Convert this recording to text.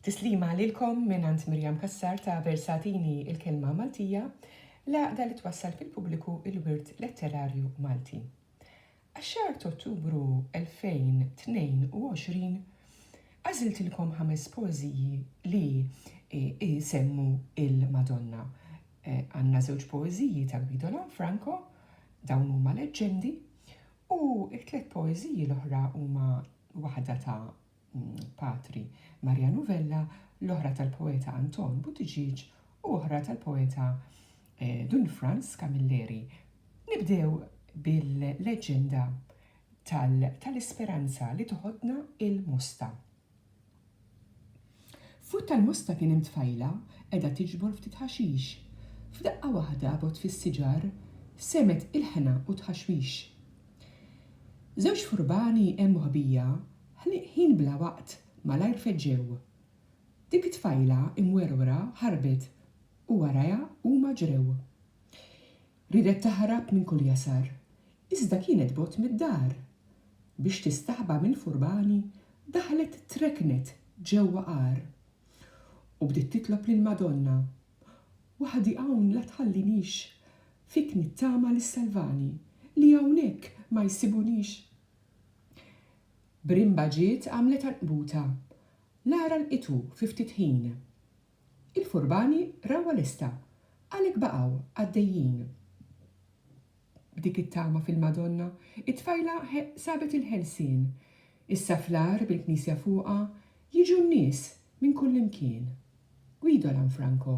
Tislima lilkom mingħand Miriam Cassar ta' Versatini il-Kelma Maltija, l-għaqda li twassal fil-pubbliku il-wirt letterarju Malti. Għax-xahar t'Ottubru 2022 għażiltilkom ħames poeżiji li jsemmu il-Madonna. Għandna żewġ poeżiji ta' Guido Lanfranco, dawn huma leġġendi, U t-tliet poeżiji l-oħra huma waħda ta' Patri Marianu Vella, l-oħra tal-poeta Anton Buttigieg u oħra tal-poeta Dun Frans Camilleri. Nibdew bil-leġġenda tal-isperanza li toħodna il-mosta. Fuq tal-musta kien hemm tfajla qegħda tiġbor ftit ħaxix. F'daqqa waħda bogħod fis-siġar, semgħet ilħna u tħaxwix. Żewġ furbani hemm moħbija ħin bla waqt malajr feġġew. Dik it-tfajla imwerwra ħarbet u warajha huma ġrew. Riedet taħrab minn kull jasar, iżda kienet bogħod mid-dar. Biex tistaħba mill-furbani, daħlet treknet ġewwa għar. U bdiet titlob lill-Madonna, Waħdi hawn la tħallinix, fik nittama li ssalvani, li hawnhekk ma jsibunix. B'rimba ġiet għamlet għanqbuta, l-għar għanqitu fi ftit ħin. Il-furbani rawha lesta, għalhekk baqgħu għaddejjin b'dik it-tama fil-Madonna. It-tfajla sabet il-ħelsien. Issa fl-agħar bil-knisja fuqha, jiġu n-nies minn kullimkien. Guido Lanfranco.